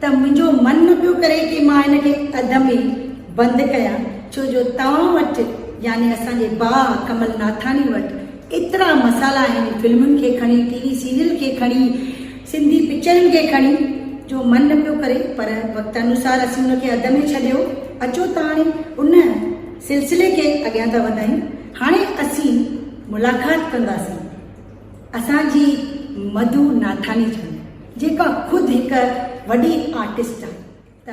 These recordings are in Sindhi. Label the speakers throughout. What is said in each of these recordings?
Speaker 1: ته منهنجو من نه پيو ڪري ڪي مان ان کي اڌ ۾ بند ڪيان ڇو جو توهان وٽ يعني اسان جي باء ڪمل ناٿاڻي وٽ ايترا مسالا آهن فلمن کي کڻي ٽي وي سيريل کي کڻي سنڌي پڪچرن کي کڻي جو من نه پيو ڪري پر وقت انوسار اسين ان کي اڌ ۾ ڇڏيو اچو ته هاڻي ان سلسلي کي اڳيان ٿا وڌايون هاڻي اسين ملاقات ڪنداسين. اسان جي مڌو ناٿاني جي جيڪا خود هڪ وڏي آرٽسٽ آهي ته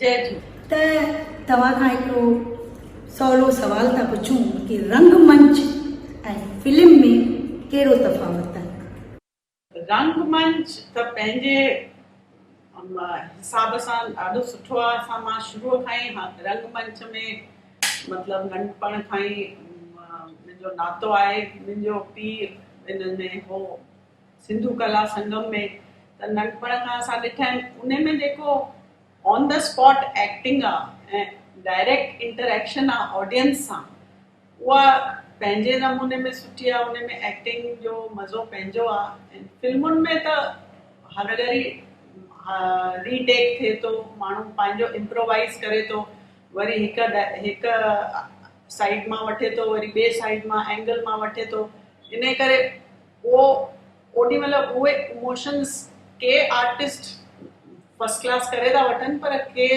Speaker 1: جي
Speaker 2: جي. ته توهان
Speaker 1: کان هڪڙو سولو سوال ٿا پڇون ڪي رنگ منچ ۽ فلم ۾ ڪهڙو تفاوت آهي؟ رنگ منچ
Speaker 2: ته پنهنجي حساب سان ڏاڍو سٺو آهي اسان مان شروع کان ئي رنگ منچ ۾ مطلب ننڍپڻ کان ئي منهنجو ناتو آهي منهنجو پيء ان ۾ هو سنڌو ڪلا سنگم ۾ ته ننڍپڻ کان اسان ڏٺا آهن انهي ۾ جيڪو آن دي اسپاٽ ايڪٽنگ آ ۽ ڊائريڪٽ انٽر ايڪشن آ آڊينس سان اها پنهنجي نموني ۾ سٺي آ انهي ۾ ايڪٽنگ جو مزو پنهنجو آ ۽ فلمن ۾ ته هر گهڙي ري ٽيڪ ٿئي ٿو ماڻهو پنهنجو امپرووائيز ڪري ٿو وري هڪ هڪ سائيڊ مان وٺي ٿو وري ٻي سائيڊ مان اينگل مان وٺي ٿو انهي ڪري پوء اوڏي مھل اھي اموشنز ڪي آرٽسٽ فرسٽ ڪلاس ڪري ٿا وٺن پر ڪي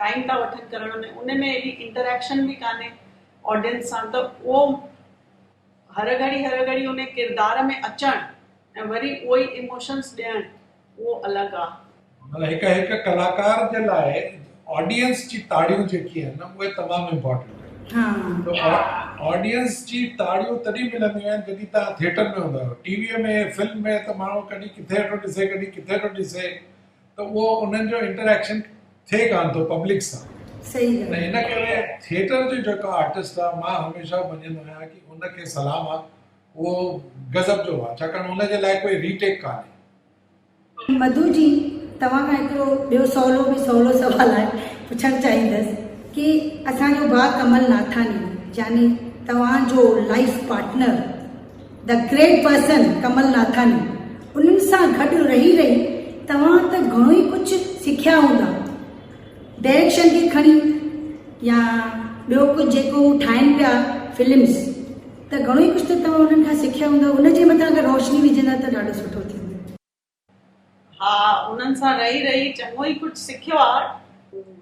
Speaker 2: ٽائيم ٿا وٺن ڪرڻ ۾ ان ۾ ايڏي انٽريڪشن به ڪانھي آڊينس سان ته اھو ھر گھڙي ھر گھڙي ان ڪردار ۾ اچڻ ۽ وري اھي اموشنز ڏيڻ اهو الڳ آ. مطلب هڪ هڪ
Speaker 3: ڪلاڪار جي لاء آڊينس جي تاڙيون جيڪي آهن نه اهي تمام امپورٽنٽ آهن ته آڊينس جي تاڙيون تڏهن ملنديون آهن جڏهن تهان ٿيٽر ۾ هوندا آهيو ٽي وي ۾ فلم ۾ ته ماڻهو ڪڏهن ڪٿي ٿو ڏسي ڪڏهن ڪٿي ٿو ڏسي ته اهو انهن جو انٽريڪشن ٿئي ڪانه ٿو پبلڪ سان صحيح ته ان
Speaker 1: ڪري
Speaker 3: ٿيٽر جو جيڪو آرٽسٽ آهي مان هميشه مڃيندو آهيان ڪي ان کي سلام آهي اهو غضب جو هئا ڇاڪاڻ ان جي لاء ڪوئي ري ٽيڪ ڪانهي. مڌو جي
Speaker 1: توهان کان هڪڙو ٻيو سولو ۾ سولو سوال آء پڇڻ چاهيندس ڪي اسان جو ڀاء ڪمل ناٿاني يعني توهان جو life partner The Great Person Kamal Nathani انهن سان گڏ رهي رهي توهان ته گهڻو ئي ڪجهه سکيا هوندا ڊيريڪشن کي کڻي يا ٻيو ڪجهه جيڪو هو ٺاهين پيا فلمس ته گهڻو ئي ڪجهه ته توهان انهن کان سکيا هوندا، ان جي مٿان اگر روشني وجهندا ته ڏاڍو سٺو ٿيندو. ها
Speaker 2: انهن سان رهي رهي چڱو ئي ڪجهه سکيو آ،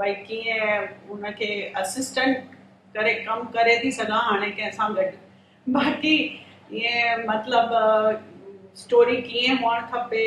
Speaker 2: ڀئي ڪيئن ان کي اسسٽنٽ ڪري ڪم ڪري ٿي سگهان هاڻي ڪنهن سان گڏ، باقي ائين مطلب اسٽوري ڪيئن هئڻ کپي.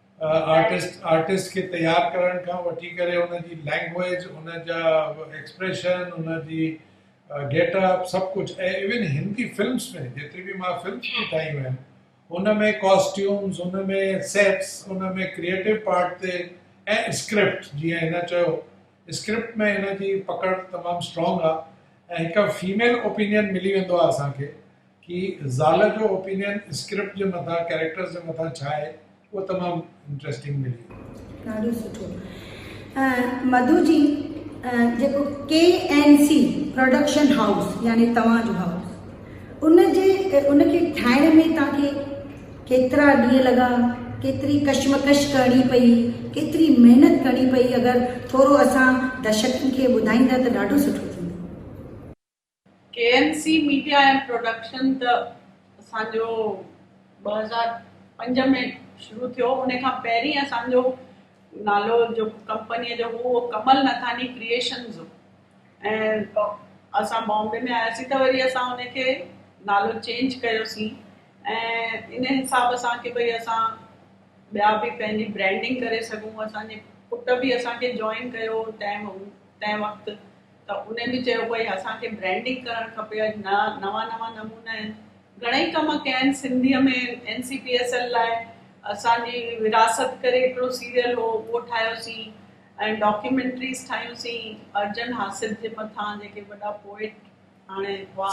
Speaker 3: آرٽسٽ آرٽسٽ کي تيار ڪرڻ کان وٺي ڪري ان جي لينگويج ان جا ايڪسپريشن ان جي گيٽ اپ سڀ ڪجهه ۽ ايون هندي فلمس ۾ جيتري به مان فلمس به ٺاهيون آهن ان ۾ ڪاسٽيومز ان ۾ سيٽس ان ۾ ڪريئيٽو پارٽ تي ۽ اسڪرپٽ جيئن هن چيو اسڪرپٽ ۾ هن جي پڪڙ تمام اسٽرانگ آهي ۽ هڪ فيميل اوپينين ملي ويندو آهي اسان کي ڪي زال جو اوپينين اسڪرپٽ جي مٿان ڪيريڪٽرز جي مٿان ڇا آهي اهو تمام انٽريسٽنگ ملي. ڏاڍو سٺو
Speaker 1: مڌو جي جيڪو K N C production house يعني توهان جو هائوس ان جي ان کي ٺاهڻ ۾ تان کي ڪيترا ڏينهن لڳا ڪيتري ڪشمڪش ڪرڻي پئي ڪيتري محنت ڪرڻي پئي اگر ٿورو اسان درشڪن کي ٻڌائيندا ته ڏاڍو سٺو ٿيندو. K N
Speaker 2: C media and production ته اسان جو ٻه هزار پنج ۾ شروع ٿيو ان کان پهرين اسان جو نالو جو ڪمپنيء جو هو اهو ڪمل نٿاني ڪريئيشنز هو ۽ اسان بامبي ۾ آياسين ته وري اسان ان کي نالو چينج ڪيوسين ۽ ان حساب سان ڪي ڀئي اسان ٻيا به پنهنجي برانڊنگ ڪري سگهون اسان جي پٽ به اسان کي جوائن ڪيو تنهن تنهن وقت ته انهن به چيو ڀئي اسان کي برينڊنگ ڪرڻ کپي اڄ نوان نوان نمونا آهن گهڻئي ڪم ڪيا آهن Sindhi ۾ N C P S L لاء اسان جي وراثت ڪري هڪڙو سيريل هو اهو ٺاهيو سين ۽ ڊاڪيومينٽريز ٺاهيون سين ارجن حاسد جي مٿان جيڪي وڏا پوئٽ هاڻي هئا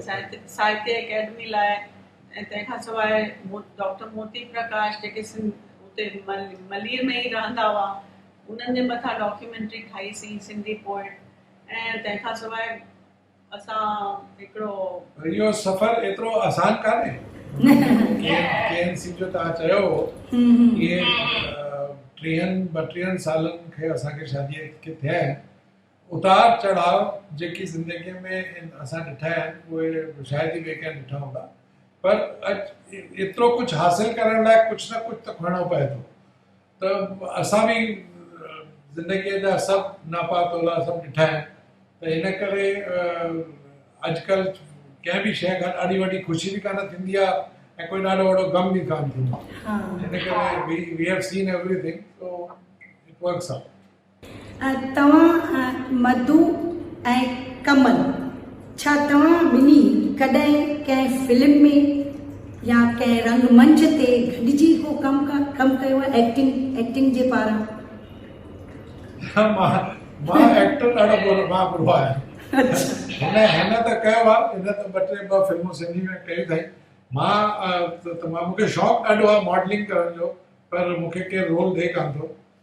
Speaker 2: ساهتيه اڪيڊمي لاء ۽ تنهن کان سواء ڊاڪٽر موتي پرڪاش جيڪي سنڌ اتي ملير ۾ ئي رهندا هئا انهن جي مٿان
Speaker 3: ڊاڪيومينٽري ٺاهي سين سنڌي پوئٽ ۽ تنهن کان سواء اسان هڪڙو. اهو سفر ايترو آسان ڪانهي جي اين سي جو توهان چيو هو اهي ٽيهن ٻٽيهن سالن کي اسان کي شادي کي ٿيا آهن اتار چڙهاء جيڪي زندگي ۾ اسان ڏٺا آهن اهي شايد ئي ٻئي ڪنهن ڏٺا هوندا پر اڄ ايترو ڪجهه حاصل ڪرڻ لاء ڪجهه نه ڪجهه ته کڻڻو پوي ٿو ته اسان به زندگيء جا سڀ ناپا تولا سڀ ڏٺا آهن ته ان ڪري اڄڪلهه ڪنهن به شيء کان ڏاڍي وڏي خوشي به ڪانه ٿيندي آهي ۽ ڪوئي ڏاڍو وڏو غم به ڪانه ٿيندو آهي ان ڪري we have seen everything so it works out توهان
Speaker 1: مڌو ۽ ڪمل ڇا توهان ٻنهي ڪڏهن ڪنهن فلم ۾ يا ڪنهن رنگ منچ تي گڏجي ڪو ڪم ڪم ڪيو آهي ايڪٽنگ ايڪٽنگ جي پاران. ها
Speaker 3: مان مان ايڪٽر ڏاڍو ٻرو مان ٻرو آهيان اڇا هن هن ته ڪيو آهي هن ته ٻه ٽي ٻه فلمون سنڌي ۾ ڪيون اٿائي مان ته مان مون کي شوق ڏاڍو آهي ماڊلنگ ڪرڻ جو پر مون کي ڪير رول ڏئي ڪانه ٿو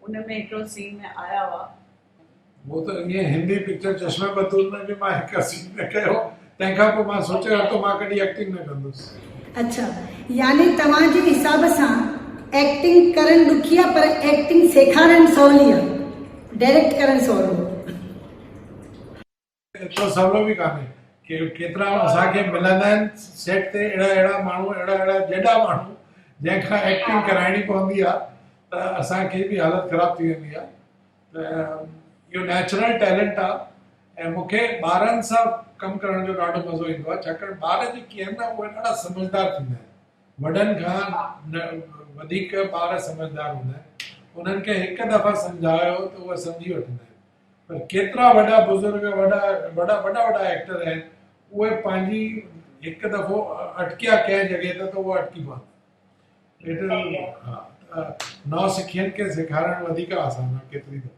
Speaker 2: ان ۾ هڪڙو سين ۾
Speaker 3: آيا هئا. مون ته انهيء هندي پڪچر چشمه بتول ۾ به مان هڪ سين ۾ ڪيو هو. تنهن کان پوء مان سوچي ورتو مان ڪڏهن ايڪٽنگ نه ڪندس. اڇا
Speaker 1: يعني توهان جي حساب سان ايڪٽنگ ڪرڻ ڏکي آ پر ايڪٽنگ سيکارڻ سولي آ ڊيريڪٽ ڪرڻ سولو.
Speaker 3: ايترو سولو به ڪانهي ڪي ڪيترا اسان کي ملندا آهن سيٽ تي اهڙا اهڙا ماڻهو اهڙا اهڙا جيڏا ماڻهو جنهن کان ايڪٽنگ ڪرائڻي پوندي آهي ته اسان کي به حالت خراب ٿي ويندي آهي ته اهو نيچرل ٽيلنٽ آهي ۽ مون کي ٻارن سان ڪم ڪرڻ جو ڏاڍو مزو ايندو آهي ڇاڪاڻ ٻار جيڪي آهن نه اهي ڏاڍا سمجهدار ٿيندا آهن وڏن کان وڌيڪ ٻار سمجهدار هوندا آهن انهن کي هڪ دفعا سمجهايو ته اهي سمجهي وٺندا آهن پر ڪيترا وڏا بزرگ وڏا وڏا وڏا وڏا ايڪٽر آهن اهي پنهنجي هڪ دفعو اٽڪيا ڪنهن جڳهه ته ته اهو اٽڪي پوندا آهن نو سکين کي سيکارڻ وڌيڪ آسان آهي ڪيتري دفعو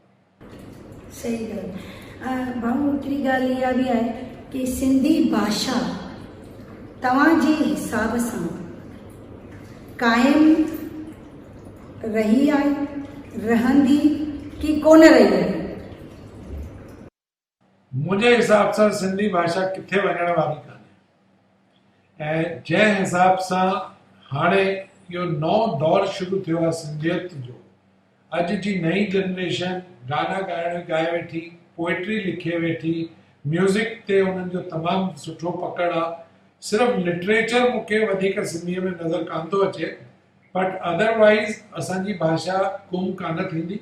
Speaker 3: صحيح ڳالهه ڀاء
Speaker 1: هڪڙي ڳالهه اها به آهي ته سنڌي باشا توهان جي حساب سان قائم رهي آهي،
Speaker 3: رهندي ڪي ڪونه رهي آهي. منهنجي حساب سان سنڌي ڀاشا ڪٿي وڃڻ واري ڪانهي ۽ جنهن حساب سان هاڻي اهو نئون دور شروع ٿيو آهي سنڌيت جو اڄ جي نئين جنريشن گانا ڳائڻ ڳائي ويٺي پوئٽري لکي ويٺي ميوزڪ تي انهن جو تمام سٺو پڪڙ آهي صرف لٽريچر مون کي وڌيڪ سنڌي ۾ نظر ڪانه ٿو اچي بٽ اڌر وائيز اسان جي ڀاشا گم ڪانه ٿيندي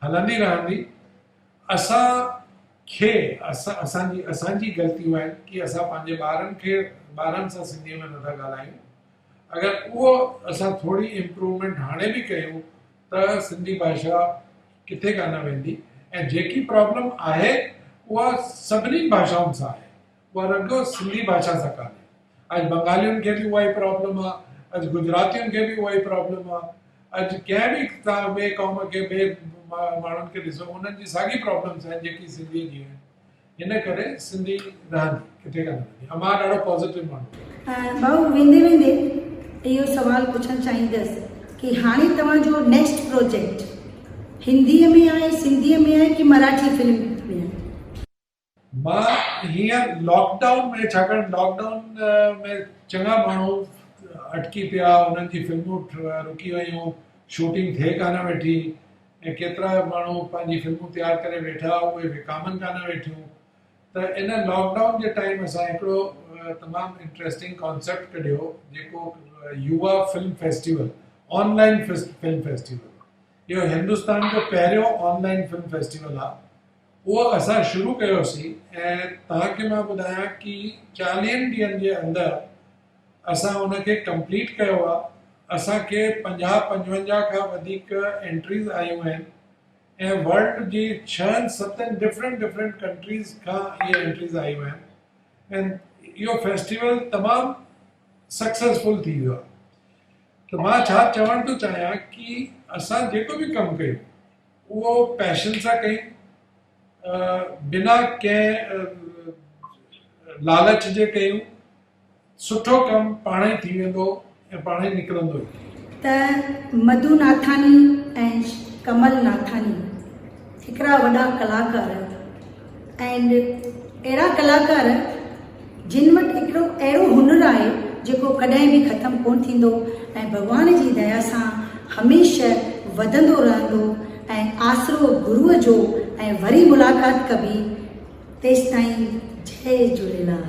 Speaker 3: هلندي رهندي اسان کي اسان جي اسان جي غلطيون آهن ڪي اسان پنهنجي ٻارن کي ٻارن سان سنڌي ۾ نٿا ڳالهايون اگر اهو اسان ٿوري امپروومينٽ هاڻي به ڪيون ته سنڌي ڀاشا ڪٿي ڪانه ويندي ۽ جيڪي پرابلم آهي اها سڀني ڀاشائن سان آهي اها رڳو سنڌي ڀاشا سان ڪانهي، اڄ بنگالين کي به اها ئي پرابلم آ، اڄ گجراتين کي به اها ئي پرابلم آ، اڄ ڪنهن به توهان ٻئي قوم کي ٻئي ماڻهن کي ڏسو انهن جي ساڳي پرابلمس آهن جيڪي سنڌي جي آهن، ان ڪري سنڌي رهندي ڪٿي ڪانه ويندي، امان ڏاڍو پازيٽو ماڻهو آهي. ڀائو ويندي ويندي اهو سوال پڇڻ
Speaker 1: چاهيندس ڪي هاڻي توهان جو نيڪسٽ پروجيڪٽ هندي ۾ آهي سنڌي ۾ آهي ڪي مراٺي فلم ۾ آهي.
Speaker 3: مان هينئر لاڪ ڊائون ۾ ڇاڪاڻ لاڪ ڊائون ۾ چڱا ماڻهو اٽڪي پيا، انهن جي فلمون رڪي ويون، شوٽنگ ٿئي ڪانه ويٺي ۽ ڪيترا ماڻهو پنهنجي فلمون تيار ڪري ويٺا اهي وڪامن ڪانه ويٺيون ته ان لاڪ ڊائون جي ٽائيم اسان هڪڙو تمام انٽريسٽنگ ڪانسيپٽ ڪڍيو جيڪو Yuva film festival online film festival اهو هندستان جو پهريون آن لائن فلم فيسٽيول آهي اهو اسان شروع ڪيوسي ۽ توهان کي مان ٻڌايان ڪي چاليهن ڏينهن جي اندر اسان ان کي ڪمپليٽ ڪيو آ اسان کي پنجاهه پنجونجاهه کان وڌيڪ انٽريز آيون آهن ۽ ورلڊ جي ڇهن ستن ڊفرنٽ ڊفرنٽ ڪنٽريز کان اهي انٽريز آيون آهن ۽ اهو فيسٽيول تمام سڪسيسفل ٿي ويو آ ته مان ڇا چوڻ ٿو چاهيان ڪي اسان جيڪو به ڪم ڪيون اهو پئشن سان ڪيم، بنا ڪنهن لالچ جي ڪيم، سٺو ڪم پاڻ ئي ٿي ويندو ۽ پاڻ ئي نڪرندو هي. ته مڌو
Speaker 1: ناٿاني ۽ ڪمل ناٿاني هڪڙا وڏا ڪلاڪار اينڊ اهڙا ڪلاڪار جن وٽ هڪڙو اهڙو هنر آهي جيڪو ڪڏهن به ختم ڪون ٿيندو ۽ ڀڳوان جي ديا سان هميشه وڌندو رهندو ۽ آسرو گروء جو ۽ وري ملاقات ڪبي تيستائين جئي جهوليلال.